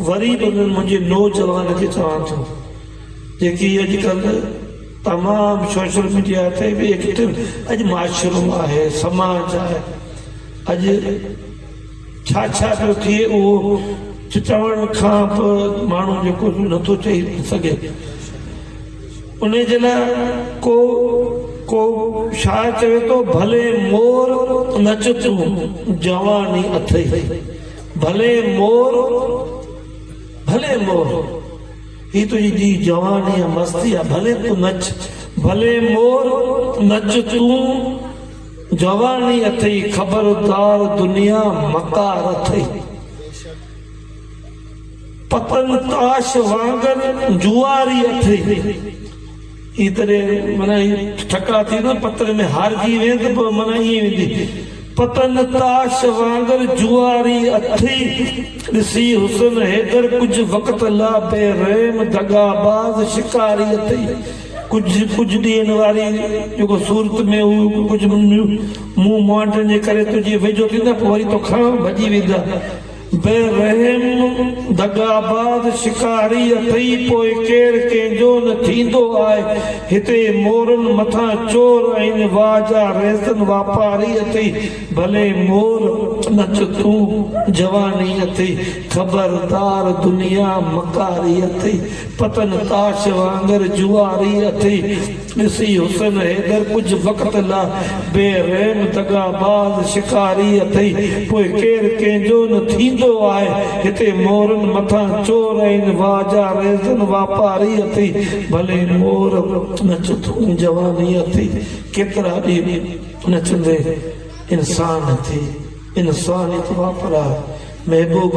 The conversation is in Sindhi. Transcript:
وري به منهنجي نوجوان کي چوان ٿو جيڪي اڄڪلهه تمام سوشل ميڊيا تي به ايڪٽو اڄ معاشرو آهي سماج آهي اڄ ڇا ڇا پيو ٿئي اهو چوڻ کان به ماڻهو جيڪو نٿو چئي سگهي ان جي لاء ڪو ڪو شاعر چوي ٿو ڀلي مور نچ تون جواني اٿئي ڀلي مور ڀلي مور هي تنهنجي جي جوان يا مستي آ ڀلي تون نچ ڀلي مور نچ تون جواني اٿئي خبردار دنيا مڪار اٿئي پتن تاش وانگر جواري اٿئي اي تڏهن معنيٰ اي ٺڪاء ٿي نه پتر ۾ هارجي وين ته پوء معنيٰ ائين ويندي. پتن تاش وانگر جواري اٿئي. ڏسي حسن حيدر ڪجهه وقت لا بي رحم دغا باز شڪاري اٿئي. ڪجهه ڪجهه ڏينهن واري جيڪو صورت ۾ هو ڪجهه مون مانڊن جي ڪري تنهنجي ويجهو ٿيندا پوء وري توکان ڀڄي ويندا. بي رحم دغاباز شڪاري اٿئي پوء ڪير ڪنهن جو نه ٿيندو آهي هتي مورن مٿان چور ۽ واجا ريسن واپاري اٿئي ڀلي مور نچ تون جواني اٿئي خبردار دنيا مڪاري اٿئي پتن تاش وانگر جواري اٿئي. ڏسي حسن حيدر ڪجهه وقت لاء بي رحم دغاباز شڪاري اٿئي پوء ڪير ڪنهن جو نه ٿيندو آهي هتي مورن مٿان چور ۽ واهه جا ريزن واپاري اٿئي ڀلي مور نچ تون جواني اٿئي ڪيترا ڏينهن نچندي انسان ٿي انسانيت واپراء محبوب